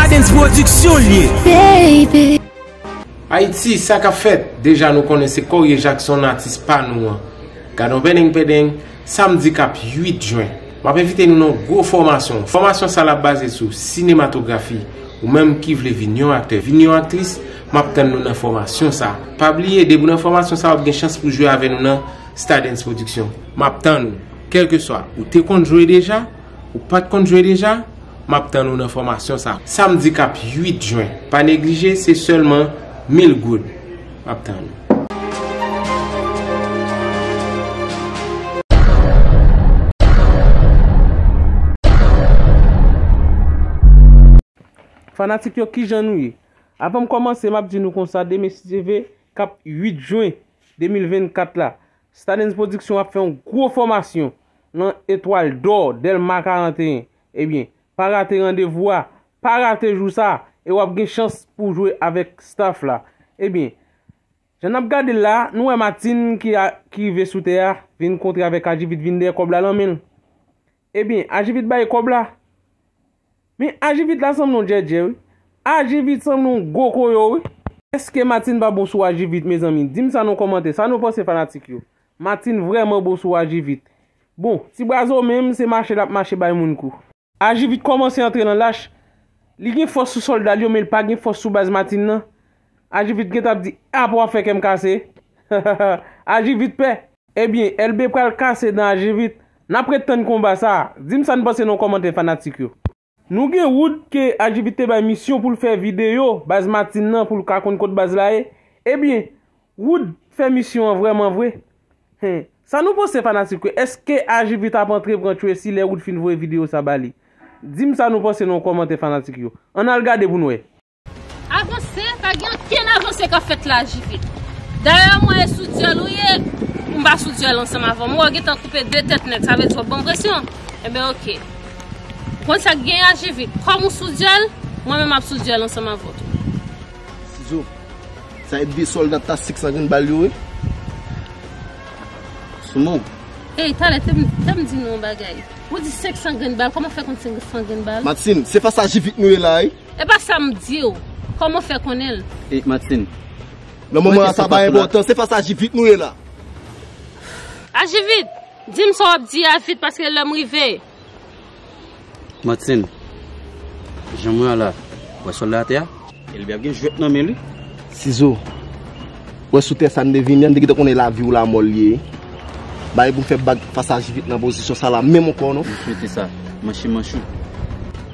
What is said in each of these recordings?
Stadens production l ye baby. Ayiti sa kap fèt? Deja nou konnen se Corie Jackson atis pa nou an. Gadon pendeng pendeng, samdi kap 8 jen. Map envite nou nan yon gwo fòmasyon. Fòmasyon sa la baze sou sinematografi. Ou menm ki vle vin yon aktè, vin yon aktris, map tann nou nan fòmasyon sa. Pa bliye depi w nan fòmasyon sa wap gen chans pou jwe avè nou nan Stadens production. Map tann ou. Kèlkeswa, ou te konn jwe deja, ou pat konn jwe deja, map tann ou nan fòmasyon sa. Samdi kap 8 jwen, pa neglije, se sèlman 1000 goud. Map tann ou. Fanatik yo kijan nou ye? Avanm kòmanse map di nou konsa deme si Dye ve kap 8 jwen 2024 la Stadens Production ap fè yon gwo fòmasyon nan Etwal Dò, Dèlma 41. Ebyen, pa rate randevou a, pa rate jou sa a, e w ap gen chans pou w jwe avèk staff la. Ebyen, jan n ap gade l la a, nou wè Matin ki rive sou tè a, vin kontre avèk Ajivit vin dèyè kòb la nan men l. Ebyen, Ajivit bay kòb la. Men ajivit la sanble yon djèdjè wi. Ajivit sanble yon gwo koyo wi. Eske Martine pa bon sou ajivit mezanmi dim sa nan kòmantè sa nou panse fanatik yo Martine vrèman bon sou ajivit bon ti brazo menm se mache lap mache bay moun kou. Ajivit kòmanse antre nan lach, li gen fòs sou sòlda l yo men li pa gen fòs sou baz Martine nan, Ajivit gentan ap di ah pou wap fè kèm kase Ajivit pè. Ebyen Elbe pral kase dan Ajivit Nap ret tann konba sa Dim sa n panse nan kòmantè fanatik yo. Nou gen wood ke ajivit te bay misyon poul fè video baz matin nan poul ka konn kot baz la ye ebyen wood fè misyon an vrèman vre hein sa nou panse fanatik yo eske ajivit ap antre pran tracy lè wood fin voye video sa bali dim sa nou panse nan kòmantè fanatik yo ann al gade poun wè. Avanse, pa gen ankenn avanse kap fèt la JP. Dayè mwen e sou dyòl ou ye, m pa sou dyòl ansanm avè w. M wè w gentan koupe 2 tèt nèg, sa vle di w ap ban m presyon? Enben ok. Ou konn sa k gen a JP? Kòm ou sou dyòl, mwen menm ap sou dyòl ansanm avè w tou. Sizo, sa e 2 sòlda tastik sa vin ba l yo ye? Sou non w. Ey, talè te m di nou yon bagay. Ou di 500 grenn bal, kòman w fè konn 500 grenn bal? Martine, se fas a JP nou ye la wi. Epa sam diw, koman fè konnen l. E Martine. Nan moman a sa pa enpòtan, se fas a Jivit nou ye la. A Jivit, dim sa wap di a vit paske lèm rive. Martine. Jan mwen an la, wè sòl la atè a? Elbe ap gen jwèt nan men li. Sizo. Wè sou tè sa n te vini an, n te gentan konnen lavi ou lamò l ye. Bagay pou m fè bag fas a Jivit nan pozisyon sa la menm ankò non. M swete sa. Manche manch ou.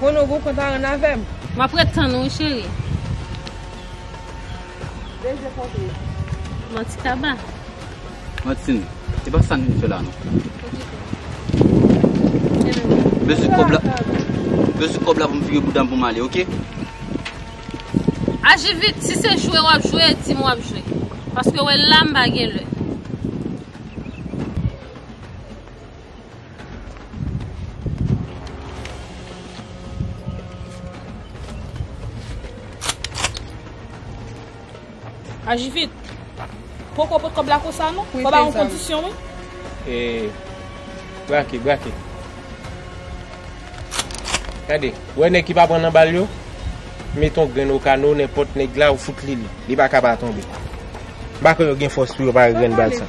Bon nou gou kontan ren avèm. Map ret tann ou wi cheri. Beze pote. Manti kaba. Manti nou. E pa sa nou vin fè la non. Beze kob la. Beze kob la pou m vire boudam pou m ale ok. Aji vit si se jwe wap jwe di m wap jwe. Paske wè la m pa gen lè. Aji vit. Poko pot kob la konsa nou. Kob la an kondisyon nou. E. Brake, brake. Kade. Wè nèk ki pa pran nan bal yo. Meton gren nou kano, nèk pot nèk la ou fout li li. Li pa kaba tonbe. Bako yo gen fos pou yo pa gren bal sa.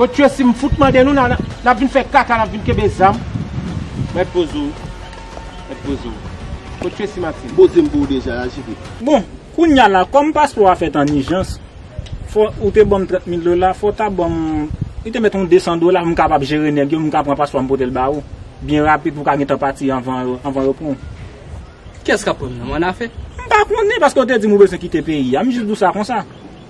Kot yo sim fout mande nou nap vin fè kaka nap vin kenbe zam. Mèt poze w. Mèt poze w. Kot yo si Martine. Poze m pou ou deja ya JP. Bon kounya la kòm paspò a fèt an ijans fò ou te banm 30 mil dola fò w ta banm li te mèt yon 200 dola pou m kapab jere nèg yo m ka pran paspò a m pote l ba ou byen rapid pou w ka gentan pati anvan yo anvan yo pran w. Kiyès kap pranm nan m annafè? M pa konnen paske ou te di m ou bezwen kite peyi a m jis di w sa konsa.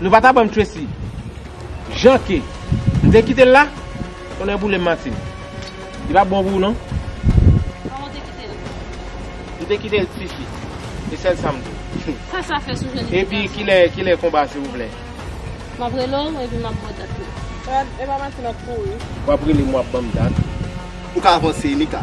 Nou pa ta banm Tracy Jan ke m te kitel la Tonnè boulem Martine Li pa bon pou ou non. Kòman w te kite l? M te kite l tifi E sèl sa m di w. Sa sa fè sou jan li te Epi kilè kilè konba silvouplè? M ap rele w epi m ap ba w dat la. Epa Martine ap kouri. W ap rele m w ap banm dat. Ou ka avanse Emika.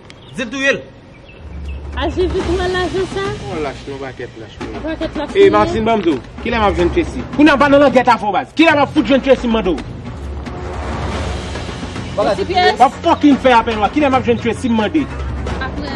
Dil touyel. A jezi kou wè lajan sa. Yon lach yon pakèt lach moun. Yon pakèt lach moun. E Martine banm diw. Kilè map jwenn Tracy. Kounya pa nan langèt avèw baz. Kilè map fout jwenn Tracy m mande w. Mesi pyès. Wap fucking fè apèl wa. Kilè map jwenn Tracy m mande. Aprè.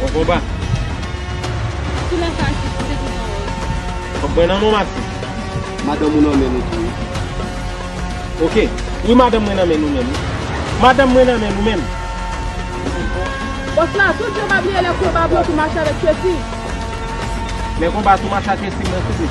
Bon konba. Sou la sa ki pote tout an rose. Fok mwen nan non mati. Madanm ou nan men nou tou wi. Ok wi madanm mwen nan men nou menm. Madanm mwen nan men nou menm. Bos la tout yo pa bliye le konba blan tou mache avek kessy. Le konba tou mache ak kessy mwen sezi.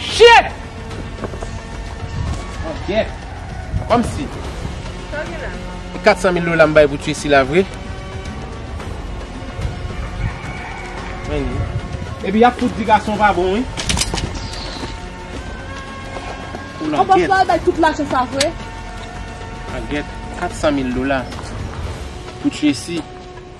Shit! Bon gèt! Kòmsi? Sa w gen la? E 400 mil dola m bay pou tye sila vre? Mwen li. Epi y ap fout di gason pa bon wi. Ou langèt. Ou panse w al bay tout lajan sa vre? Langèt, 400 mil dola pou tye si.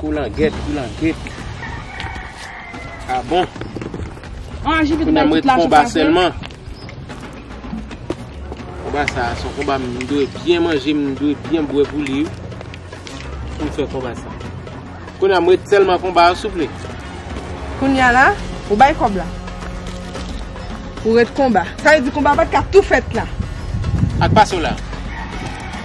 Koulangèt koulangèt abon Kounye mwen te konba selman Konba sa a son konba mwen dwe byen manje mwen dwe byen bwe pou li Pou mwen fè konba sa Kounye mwen te selman konba a souple Kounye la ou bay kob la Pou ret konba Sa vle di konba pat ka tou fèt la Ak pasola.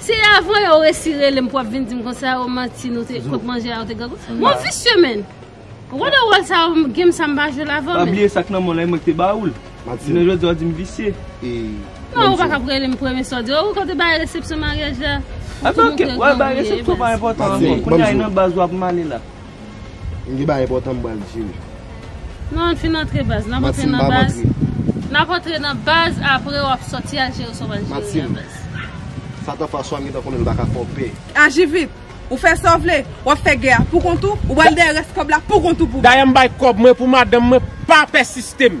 Se avan yo resi relem pou ap vin dim konsa yo manti nou te kot manje a yo te gagou Moun visye menn Ou konn de wòl sa yo game sa mpa jwel avan menn Pa bliye sak nan menw la e mwen ki te baoul Jounen jodi wap dim visye Non ou paka ap relem premye sa wap di Ou kote bagay resepsyon maryaj la Ou tou moutre granmoun ye e baz Matin Kounye a e nan baz wap male la. M gen bagay enpòtan m pral di w. Non ann fin antre baz. Nap antre nan baz. Mathilde m pap antre. Nap antre nan baz apre wap sòti al jere sa w pral jere a baz. Mathilde. Satan François m gentan konnen l paka fè w pè. Aji vit. Ou fè sa w vle. Wap fè gè a pou kont ou. Ou pral dèyè rès kòb la pou kont ou pou. Dayè m bay kòb mwen pou madanm mwen pa pèsiste m.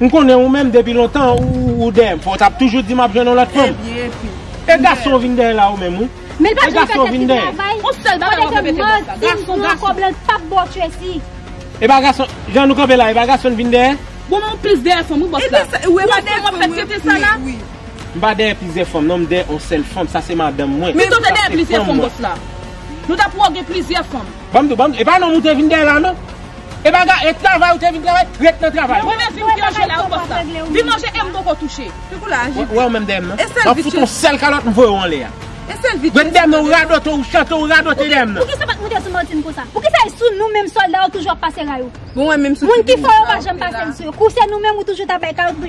M konnen ou menm depi lontan ou dèyè m fò w tap toujou di map jwenn yon lòt fanm e gason vin dèyè la ou menm wi e gason vin dèyè e pa gason jan nou kanpe la e pa gason vin dèyè m pa dèyè plizyè fanm non m dèyè yon sèl fanm sa se madanm mwen sa se fanm mwen. Banm di w, banm di w, e pa nonm ou te vin dèyè la non. E pa ga, e travay ou te vin travay, ret nan travay. Mwen menm vin pyòje la ou pòs la. Vin manje e m poko touche. Piko la aji vre. Wè w menm dèyè m nan. E sèl vit yo. Map fout w yon sèl kalòt m voye w anlè a. E sèl vit yo. Ret dèyè m nan ou radote ou chante ou radote dèyè m nan. Poukisa pat moute sou Martine konsa? Poukisa e sou nou menm sòlda ou toujou ap pase ray ou? Bon wè menm sou ti moun sa ou te la. Moun ki fò yo pa janm pase l sou yo. Kou se nou menm ou toujou ta bay kalòt.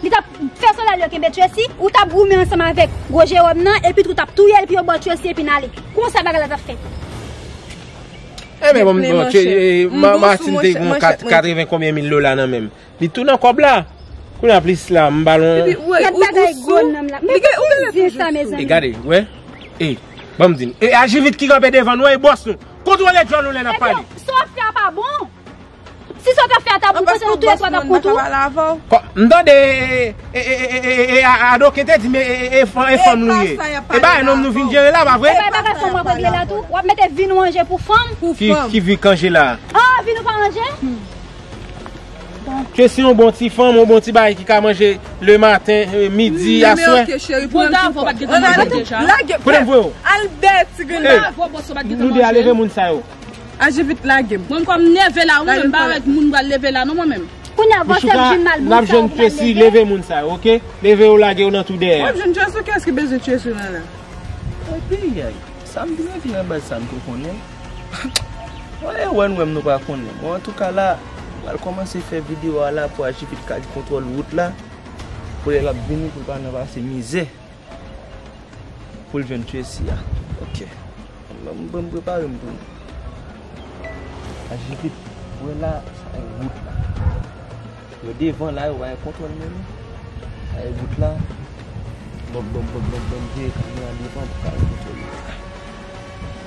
Li tap fè solda li yo kenbe Tracy, ou tap goumen ansanm avèk gwo Jérôme nan epi tou tap touyel epi yo baw Tracy epi nale. Konsa bagay la tap fèt. Ebyen bon bon Martine te gen 80 konbyen mil dola nan menm. Li tou nan kòb la. Kounya plis la m ba lon. Gad bagay gwo nonm la. Men pou ki di sa mezanmi. E gade wè. E banm di nou. E ajivit ki kanpe devan nou e bòs nou. Kontwole djòl nou lè nap pale. Sa wap fè a pa bon. Si sa w tap fè a tap bon pou tèt ou tou 3 tap bon tou. M tande e adoken te di m e fanm nou ye. E bagay nonm nou vin jere la pa vre? E pa e bagay fanm wap regle la tou? Wap mete vi nou anje pou fanm? Ki vi k anje la? A vi nou pa anje? Ke si yon bon ti fanm, yon bon ti bagay ki ka manje le maten, midi, aswè. Bon davo bat gen ti manje deja. Kote m voye w? Al bè ti grenn davo. Nou de a leve moun sa yo. Aji vit lagem. Bon kòm nève la wi menm pa wè moun m pral leve la non mwen menm. Kounya vòsèm vin mal moun sa ou pral leve. Michouka nap jwenn Tracy leve moun sa yo ok leve yo lagew nan tou dèyè. Wap jwenn Tracy kiyès ki bezwen Tracy nan la. Ayayay sam vin rete nan baz sa m to konnen Mwen e wè nou menm nou pa konnen bon antouka la m pral kòmanse fè video a la pou Aji vit ka gen kontwòl wout la pou lè lap vini pou l pa nan pase mizè. Poul jwenn Tracy a ok. Banm banm preparem pou nou. Aji vit ou wè la sa e wout la. Yo devan la yo pa gen kontwòl men non. Sa e wout la. Banm banm banm banm banm veye kamera devan pou ka wè kote yo ye.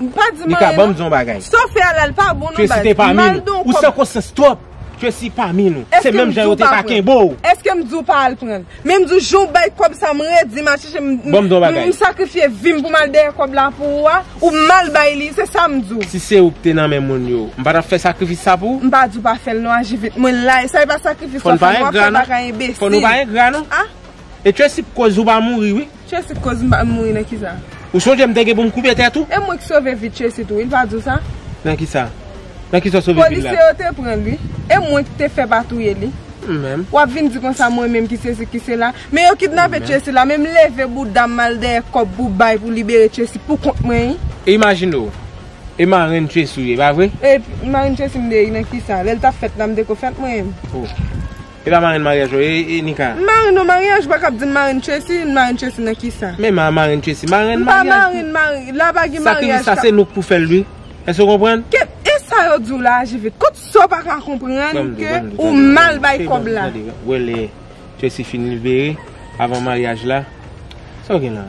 M pa di m anyen non. Saw fè a la li pa bon non baz. M bal don kòb. Ou san konsyans twòp. Tracy pami nou. Se menm jan yo te pa kenbe w. Eske m di w pa al pran. Men m di w jan w bay kòb sa m redi m al chèche m. Banm don bagay. M sakrifye vi m pou m al dèyè kòb la pou ou a. Ou mal bay li. Se sa m di w. Si se ou ki te nan men moun yo. M pa tap fè sakrifis sa pou ou. M pa di w pa fè l non aji vit. Mwen la. Sa e pa sakrifis wap fè. Fò n pa engra non. Fò nou pa engra non. E Tracy pou koz ou pa mouri wi. Tracy koz m pa konn mouri nan kisa. Ou sonje m te gen pou m koupe tèt ou? E mwen k sove vi Tracy tou wi l pa di w sa? Nan kisa? Nan kisa w sove vil la? Polisye yo te pran l wi. E mwen k te fè pa touye li? M menm. Wap vin di konsa mwen menm ki sesi ki sela? Men yo kidnape Tracy la men m leve bouda m mal dèyè kòb pou bay pou libere Tracy pou kont mwen wi. E imajine w. E marenn Tracy ou ye pa vre? E marenn Tracy m de wi nan kisa? Lè l tap fèt la m te ko fèt mwen menm? Oh. E pa marenn maryaj yo e e Nika. M marenn yon maryaj ou pa kab di m marenn Tracy, m marenn Tracy nan kisa? Men ma marenn Tracy, marenn maryaj pou. M pa marenn marenn, la pa gen maryaj ka. Sa ki sa se nou k pou fèl ui. Èske ou konprann? Ke e sa yo di w la a JV? Kot sa w pa ka konprann ke ou mal bay kòb la? Wè lè Tracy fin libere avan maryaj la. Sa w gen la?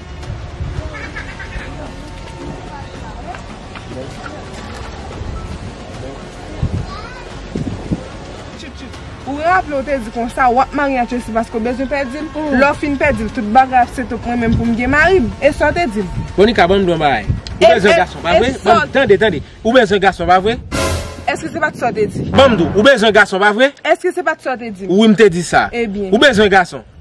Ou raple ou te di konsa wap marye ak yo se paske ou bezwen pèdi l? Lè w fin pèdi l tout bagay ap sete pou mwen menm pou m gen mari m. E sa w te di l? Monica ban m di w yon bagay. Ou bezwen gason pa vre? Ban m di, tande, tande. Ou bezwen gason pa vre? Eske se pa t sa w te di? Ban m di w, ou bezwen gason pa vre? Eske se pa t sa w te di? Wi m te di sa. Ebyen. Ou bezwen gason?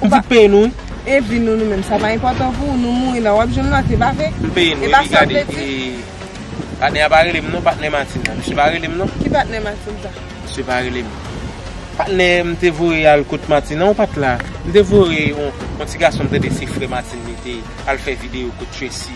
Ou pa. Pitit peyi nou wi. E vi nou nou menm sa pa enpòtan pou ou nou mouri nan wap jwenn mati pa vre. M peyi nou epi gade e patnè a pa relem non patnè Martine nan misye pa relem non. Ki patnè Martine sa? Misye pa relem. Patnè m te voye al kot Martine an ou pat la. M te voye yon ti gason m tande se frè Martine li te al fè video kot Tracy.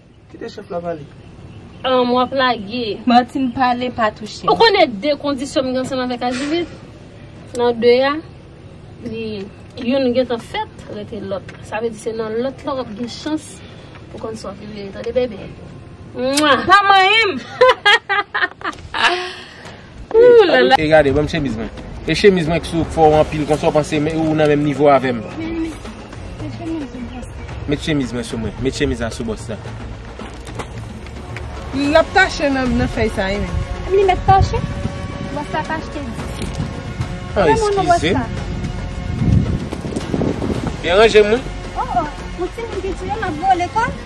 Kite chef la pale. Humm wap lage. Martine pale pa touche m. Ou konnen de kondisyon m gen ansanm avèk Ajivit? Nan de a, li youn gentan fèt rete lòt la. Sa vle di se nan lòt la wap gen chans pou konn sa wap vle tande bebe. Mwah! Pa manyen m! Ooh lala. Ey gade banm chemiz mwen. E chemiz mwen ki sou fò ou anpil konsa ou panse ou nan menm nivo avèm. Met chemiz mwen sou mwen. Met chemiz la sou bòs la. Lap tache nan fèy sa ui menm. Li met tache? Bòs la tache te di. An eskizem. Byen ranje m wi. Oh oh. Ou ti moun ki tiye map vole kòm.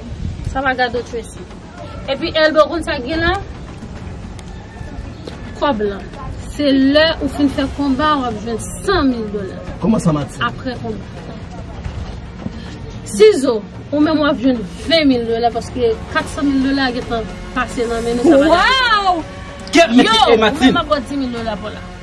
Sa pa gade w Tracy. Epi Elbe w konn sa k gen la? Kòb lan. Se lè ou fin fè konba w ap jwenn 100 mil dola. Kòman sa Mati? Aprè konba. Sizo, ou menm w ap jwenn 20 mil dola paske 400 mil dola a gentan pase nan men nou sa pa gade w. Waww! Yo! Ou menm m ap ba w 10 mil dola pou la.